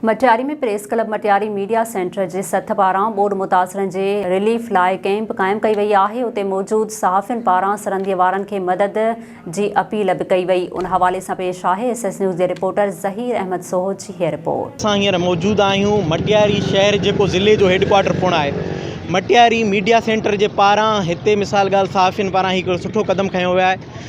Matiari ۾ press club Matiari media centre جي سٿ پاران ٻوڏ متاثرن جي رليف لاء ڪئمپ قائم ڪئي وئي آهي اتي موجود صحافين پاران سرندي وارن کي مدد جي اپيل به ڪئي وئي ان حوالي سان پيش آهي ايس ايس نيوز جي رپورٽر ظهير احمد سوهو جي هي رپورٽ. اسان هينئر موجود آهيون مٽياري شهر جيڪو ضلعي جو هيڊڪوارٽر پڻ آهي مٽياري ميڊيا سينٽر جي پاران هتي مثال ڳالهه صحافين پاران هي هڪڙو سٺو قدم کنيو ويو آهي.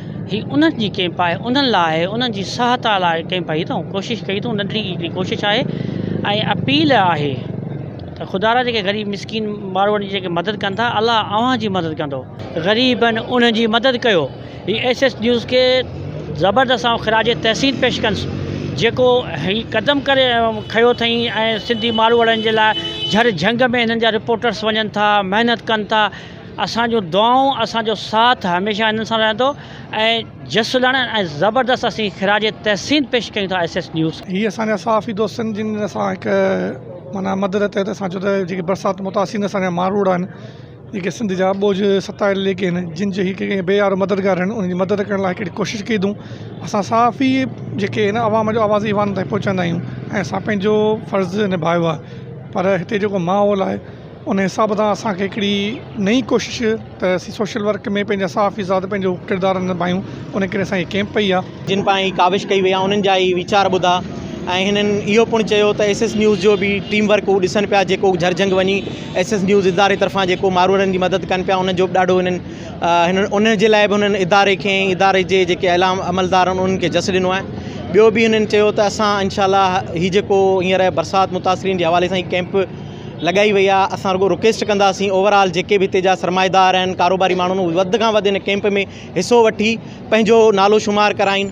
هي انهن جي ڪئمپ آهي انهن لاء آهي انهن جي سهائتا لاء ڪئمپ آهي هي تون ڪوشش ڪئي تون ننڍڙي هڪڙي ڪوشش آهي ۽ اپيل آهي ته خدا را جيڪي غريب مسڪين ماروئڙ جي جيڪي مدد ڪن ٿا الله اوهان جي مدد ڪندو غريب آهن انهن جي مدد ڪيو هي ايس ايس نيوز کي زبردست آئون خراج تحسين پيش ڪنس جيڪو هي قدم ڪري کيو اٿئي ۽ سنڌي ماروئڙن جي لاء جھڙ جھنگ ۾ هنن جا رپورٽرس وڃن ٿا محنت ڪن ٿا اسان جون دعائون اسان جو ساٿ هميشه هنن سان رهندو ۽ جسلڻ ۽ زبردست اسين خراج تحسين پيش ڪيون ٿا ايس ايس نيوز کي. هي اسان جا صحافي دوستن جن اسان هڪ معنيٰ مدد تحت اسان جو ته جيڪي برسات متاثرين اسان جا ماروئڙا آهن جيڪي سنڌ جا ٻوجھ ستايل جيڪي آهن جن جي هڪ ڪنهن بي يارو مددگار آهن انهن جي مدد ڪرڻ لاء هڪڙي ڪوشش ڪئي اٿون اسان صحافي جيڪي آهن عوام جو آواز عوام تائين پهچائيندا آهيون ۽ اسان پنهنجو فرض نڀايو آهي پر هتي جيڪو ماحول آهي ان حساب سان اسان کي هڪڙي نئين ڪوشش ته اسين سوشل ورڪ ۾ پنهنجا صحافي صاحب پنهنجو ڪردار نڀايون ان ڪري اسان جي ڪيمپ پئي آ. جن پاڻ هي ڪاوش ڪئي وئي آ انهن جا هي ويچار ٻڌا ۽ هنن اهو پڻ چيو ته ايس ايس نيوز جو به ٽيم ورڪ هو ڏسن پيا جيڪو جهرجهنگ وڃي ايس ايس نيوز اداري طرفان جيڪو ماروئڙن جي مدد ڪن پيا انهن جو به ڏاڍو هنن هنن ان جي لاء به هنن اداري کي ۽ اداري جي جيڪي اعليٰ عملدار آهن انهن کي جس ڏنو آهي ٻيو به هنن چيو ته اسان انشاء الله هي جيڪو هينئر برسات متاثرين جي حوالي سان هي ڪيمپ لڳائي وئي آهي اسان رڳو رڪويسٽ ڪنداسين اوور آل جيڪي به هتي جا سرمائيدار آهن ڪاروباري ماڻهو آهن وڌ کان وڌ هن ڪئمپ ۾ حصو وٺي پنهنجو نالو شمار ڪرائين